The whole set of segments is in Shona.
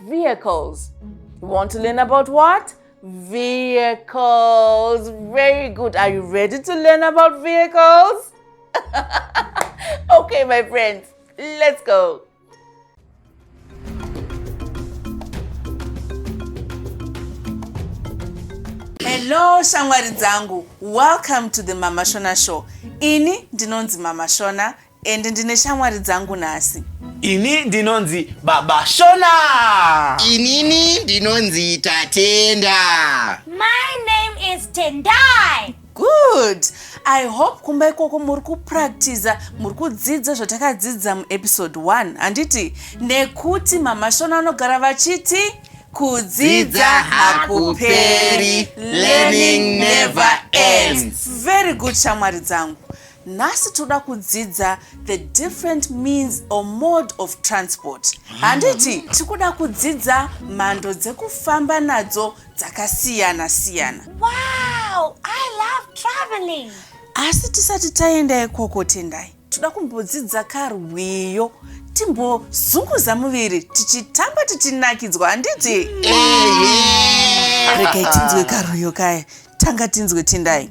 Vehicles. You want to learn about what? Vehicles. Very good. Are you ready to learn about vehicles? okay, my friends, let's go. hello shamwari dzangu welcome to the mama shona show ini ndinonzi mama shona And ndine shamwari dzangu nhasi. Ini ndinonzi Baba Shona. Inini ndinonzi Tatenda. My name is Tendai. Good. I hope kumba ikoko muri kupractiza, muri kudzidza zvatakadzidza muepisode 1. Handiti nekuti Mama Shona vanogara vachiti kudzidza hakuperi, learning never ends. Very good shamwari dzangu. nhasi toda kudzidza the different means or mode of transport handiti ah. tikuda kudzidza mhando dzekufamba nadzo dzakasiyana siyana wow, I love traveling. asi tisati taenda ikoko tendai toda kumbodzidza karwiyo timbozunguza muviri tichitamba tichinakidzwa handiti regai tinzwe karwiyo kaya tanga tinzwe tendai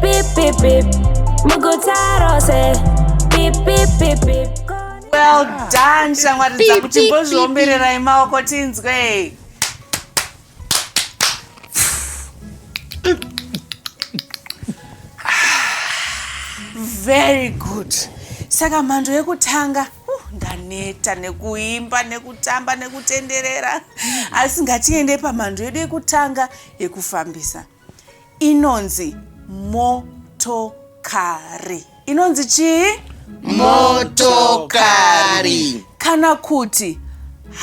Beep beep beep. Muguta rose. Beep beep beep beep. Well done shamwari dzangu Beep, beep, beep, timbozviombererai maoko tinzwe. Very good. Saka mhando yekutanga uh, ndaneta nekuimba nekutamba nekutenderera asi ngatiende pamhando yedu yekutanga yekufambisa. inonzi motokari inonzi chii motokari kana kuti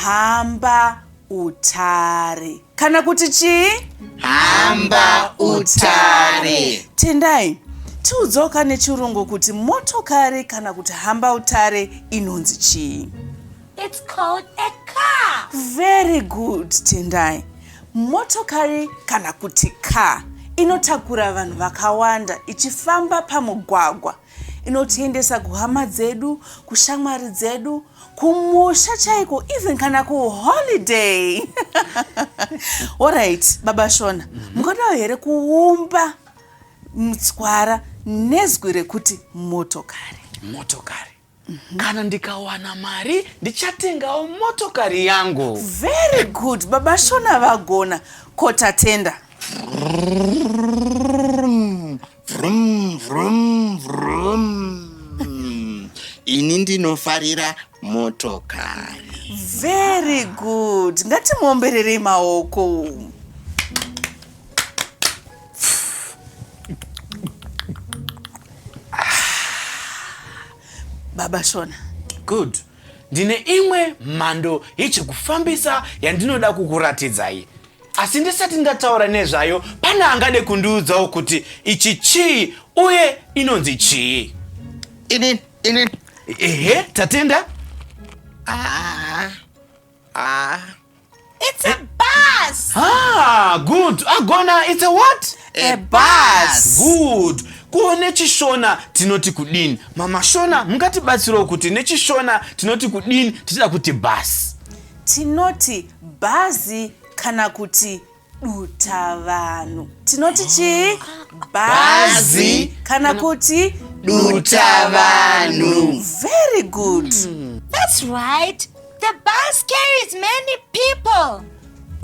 hamba utare kana kuti chii hamba utare tendai tiudzawo ka nechirungu kuti motokari kana kuti hamba utare inonzi chii It's called a car. Very good, Tendai. Motokari kana kuti car inotakura vanhu vakawanda ichifamba pamugwagwa inotiendesa kuhama dzedu kushamwari dzedu kumusha chaiko even kana kuholiday orit baba shona mhm. mukadawo here kuumba mutswara nezwi rekuti motokari motokari Mhm. Kana ndikawana mari ndichatengawo motokari yangu. Very good. Baba Shona vagona. Ko tatenda. Vrum vrum vrum. Ini ndinofarira motokari. Very good. Ngatimuombererei maoko. baba shona good ndine imwe mhando yechekufambisa yandinoda kukuratidzai asi ndisati ndataura nezvayo pane angade kundiudzawo kuti ichi chii uye inonzi chii ini ini ehe tatenda ah. Ah. It's a bus. Ah, good. Agona, it's a what? A, a bus. bus. Good. kuone chishona tinoti kudini mama shona mungatibatsirawo kuti nechishona tinoti kudini tichida kuti bhasi tinoti bhazi kana kuti dutavanhu tinoti chii bhazi kana kuti dutavanhu very good mm. that's right the bus carries many people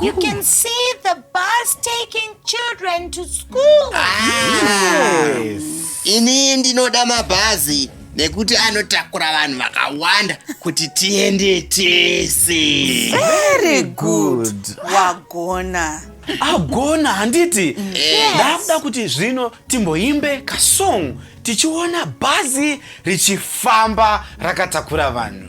You can see the bus taking children to school. Ah. Yes. Ini ndinoda mabhazi nekuti anotakura vanhu vakawanda kuti tiende tese very good wagona agona handiti Yes. ndakuda kuti zvino timboimbe kasong tichiona bhazi richifamba rakatakura vanhu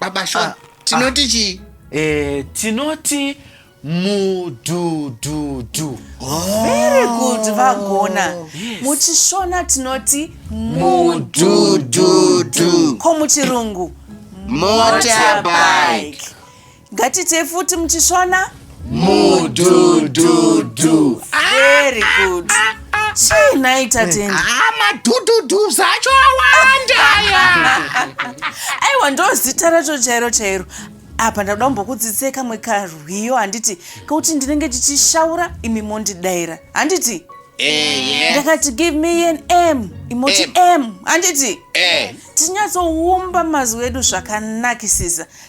baba shon ah, tinoti ah. chii eh, tinoti mudududu oh. very good vagona yes. muchishona tinoti mudududu ko muchirungu motorbike Ngatitei futi muchishona. Mudududu. Very good. Chii nhai tatendi? Ah, madududu zvacho awanda aya. Aiwa ndozita racho chairo chairo apa ndakuda kumbokudzidzisai kamwe karwiyo handiti kekuti ndinenge ndichishaura imi mondidaira handiti ndakati give me an m imoti m handiti tinyatsoumba mazwi edu zvakanakisisa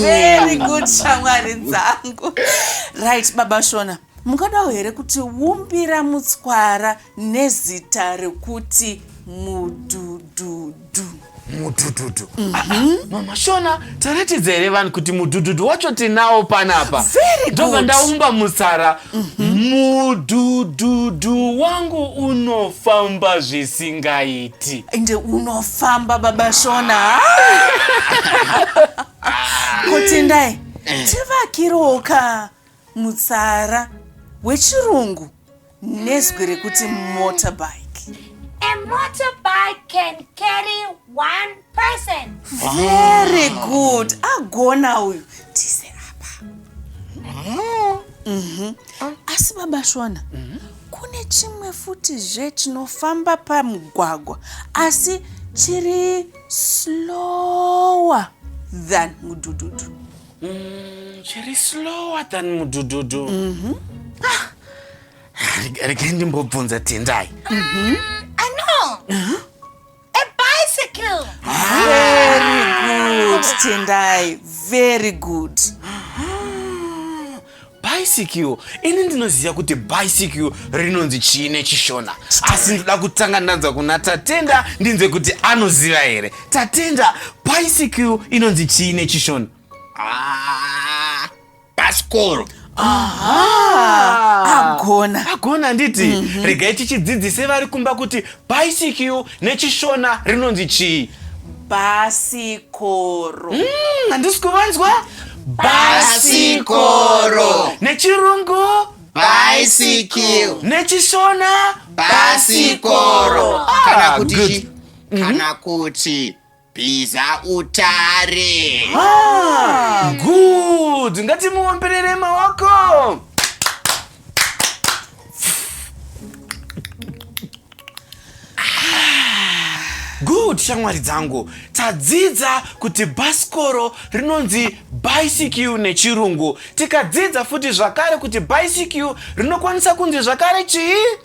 very good shamwari dzangu right baba shona mungadawo here kuti wumbira mutswara nezita rekuti mudududu mudududu mm -hmm. mama shona taratidza here vanhu kuti mudududu wacho tinawo panapa ndobva ndaumba mutsara mudhudhudhu wangu unofamba zvisingaiti ende unofamba baba shona kotendai tivakiroka mutsara wechirungu nezwi rekuti motorbike A motorbike can carry one person very good agona uyu tise apa mhm. asi baba shona mhm. kune chimwe futi zve chinofamba pamugwagwa asi chiri slower than mudududu mm, chiri slower than mudududu mhm. ah, regai ndimbobvunza tendai bicycle. Very good, Tendai. Very good. bicycle ini ndinoziva kuti bicycle rinonzi chii nechishona asi ndoda kutanga ndanzwa kuna tatenda ndinzwe kuti anoziva here tatenda bicycle inonzi chii nechishona Ah, pasikoro agona agona handiti mhm. regai tichidzidzise vari kumba kuti bicycle nechishona rinonzi chii basikoro mm, handisi kuvanzwa basikoro nechirungu bicycle nechishona basikoro kana ah, kuti kana mhm. kuti Bhiza utare. Ah, good. Ngatimuomberere maoko. good shamwari dzangu tadzidza kuti bhasikoro rinonzi bicycle nechirungu tikadzidza futi zvakare kuti bicycle rinokwanisa kunzi zvakare chii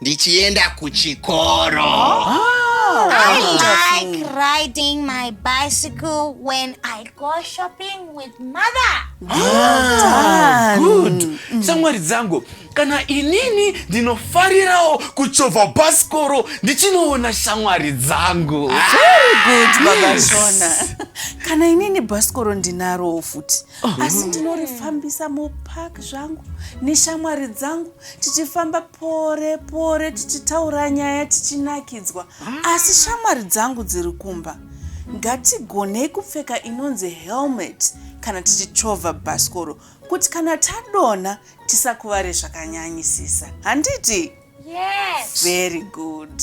ndichienda kuchikoro I like riding my bicycle when I go shopping with mother. Ah, good mm. shamwari dzangu kana inini ndinofarirawo kuchovha bhasikoro ndichinoona shamwari dzangu ah, Very good, Baba Shona. kana inini bhasikoro ndinarowo futi oh. asi ndinorifambisa mupark zvangu neshamwari dzangu tichifamba pore pore tichitaura nyaya tichinakidzwa asi shamwari dzangu dziri kumba ngatigonei kupfeka inonzi helmet kana tichichovha bhasikoro kuti kana tadonha tisakuvare zvakanyanyisisa handiti yes. very good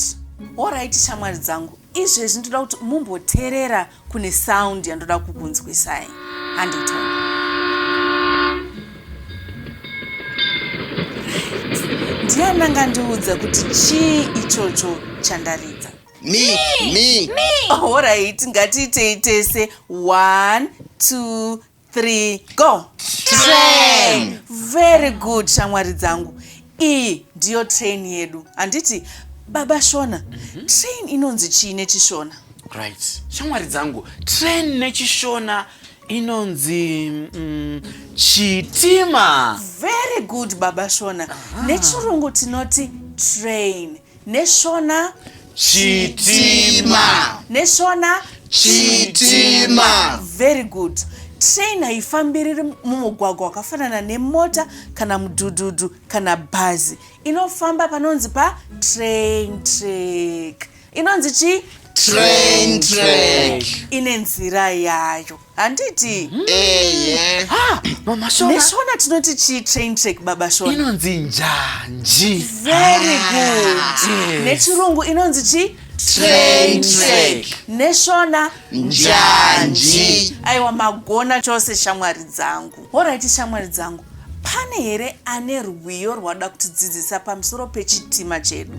orit shamwari dzangu izvezvi ndoda kuti mumboterera kune sound yandoda kukunzwisai handitoni ndiani angandiudza kuti chii ichocho chandaridza me me me horaiti oh, ngatiitei tese one two three go train very good shamwari dzangu iyi ndiyo train yedu handiti baba shona mm -hmm. train inonzi chii nechishona right shamwari dzangu train nechishona inonzi mm, chitima very good baba shona nechirungu tinoti train Neshona. Chitima. Neshona. Chitima. Very good. Train haifambiriri mumugwagwa wakafanana nemota kana mudhudhudhu kana bhazi. Inofamba panonzi pa train track. Inonzi chi? Train track. Ine nzira yayo. handiti Eye. Ah, mama shona neshona tinoti chii train track baba shona inonzi njanji very good nechirungu inonzi chii Train track. neshona Njanji. aiwa magona chose shamwari dzangu horaiti shamwari dzangu pane here ane rwiyo rwada kutidzidzisa pamusoro pechitima chedu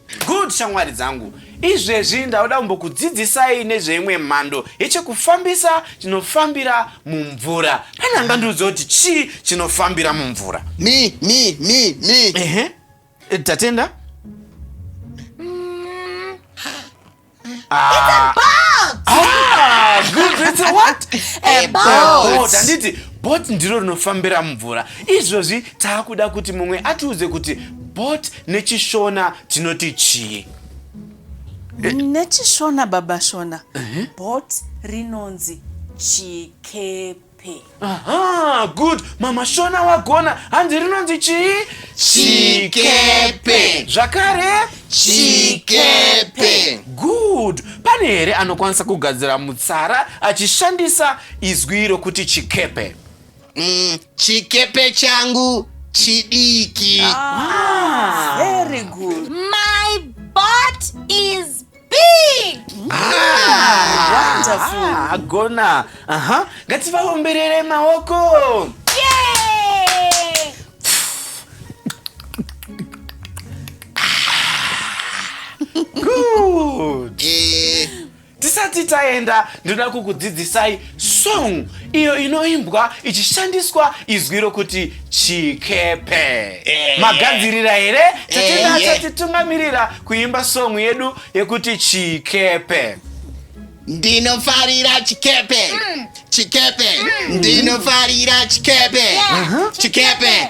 Good shamwari dzangu, izvezvi ndauda kumbokudzidzisai nezveimwe mhando yechekufambisa chinofambira mumvura. Pane angandiudza kuti chii chinofambira mumvura? Mi, mi, mi, mi. Ehe, tatenda. Ah. Ah, good, it's a what? A boat. Handiti boat ndiro rinofambira mumvura. Izvozvi taakuda kuti mumwe atiudze kuti boat nechishona tinoti chii? Nechishona baba shona. Uh-huh. Boat rinonzi chikepe. pay. Aha, good. Mama Shona wagona. Hanzi rinonzi chii? Chikepe. Zvakare? Chikepe. Good. Pane here anokwanisa kugadzira mutsara achishandisa izwi iro kuti chikepe? Mm, chikepe changu chidiki. Ah, very good. My butt is agona aha ngativaomberere maoko Good. tisati taenda ndinoda kukudzidzisai Song iyo inoimbwa ichishandiswa izwi rokuti chikepe. Eh. Magadzirira here? Tatenda eh, achatitungamirira eh. kuimba song yedu yekuti chikepe. Ndinofarira chikepe. Mm. Chikepe. Mm. Ndinofarira chikepe. Chikepe.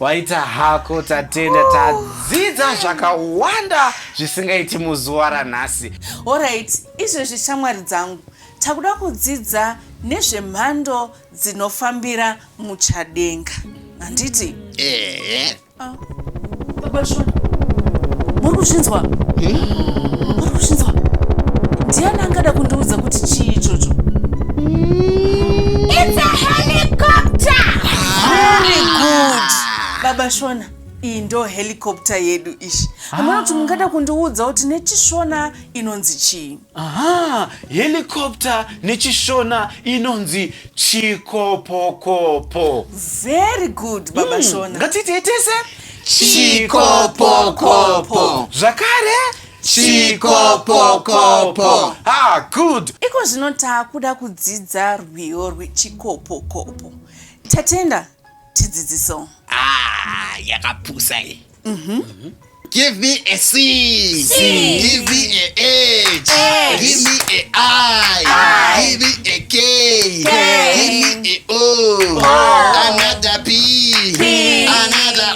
Waita hako tatenda tadzidza zvakawanda zvisingaiti muzuva ranhasi. Alright, izvezvi shamwari dzangu takuda kudzidza nezvemhando dzinofambira muchadenga. Handiti? Ehe. Ah. Baba Shona. Muri kuzvinzwa? Hmm? Muri kuzvinzwa? Ndiani angada kundiudza kuti chii ichocho? It's a helicopter! Very good. Baba Shona, iyi ndo helicopter yedu ishi. Hamuna kuti mungada kundiudza kuti nechishona inonzi chii? Aha, helicopter nechishona inonzi chikopokopo. Very good, Baba Shona. Ngatiite tese. Chikopokopo. Zvakare. chikopokopo ah good iko zvino taakuda kudzidza rwiyo rwechikopokopo tatenda tidzidziso ah yakapusa iyi mm -hmm. mm -hmm. Give me a C. C. Give me a H. H. Give me a I. I. Give me a K. K. Give me a O. o. Another P. P. Another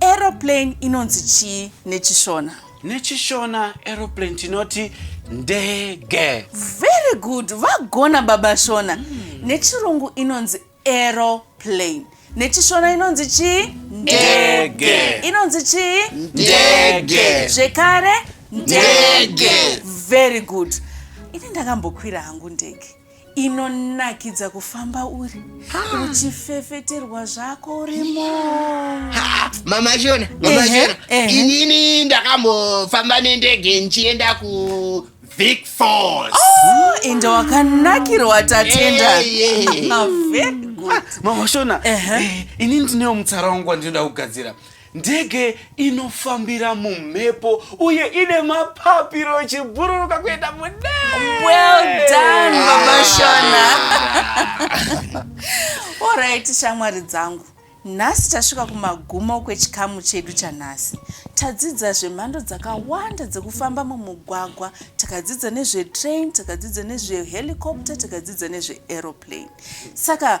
Aeroplane inonzi chii nechishona? Nechishona aeroplane tinoti ndege. Very good, vagona baba Shona. Mm. Nechirungu inonzi aeroplane. Nechishona inonzi chii? Ndege. Inonzi chii? Ndege. Zvekare? Ndege. Very good. Ini ndakambokwira hangu ndege. inonakidza kufamba uri uchifefeterwa zvako urimo Ha, mama shona mama Ehe, shona ehe. inini ndakambofamba nendege ndichienda ku vic falls ende wakanakirwa tatenda Eh, eh. Ah, very good. mama shona Ehe. eh, inini ndinewo mutsara wangu wandinoda kugadzira Ndege inofambira mumhepo uye ine mapapiro ichibhururuka kuenda mudenga. Well done Baba Shona. Alright shamwari dzangu. Nhasi tasvika kumagumo kwechikamu chedu chanhasi. Tadzidza zvemhando dzakawanda dzekufamba mumugwagwa, takadzidza nezvetrain, takadzidza nezvehelicopter, takadzidza nezveaeroplane. Saka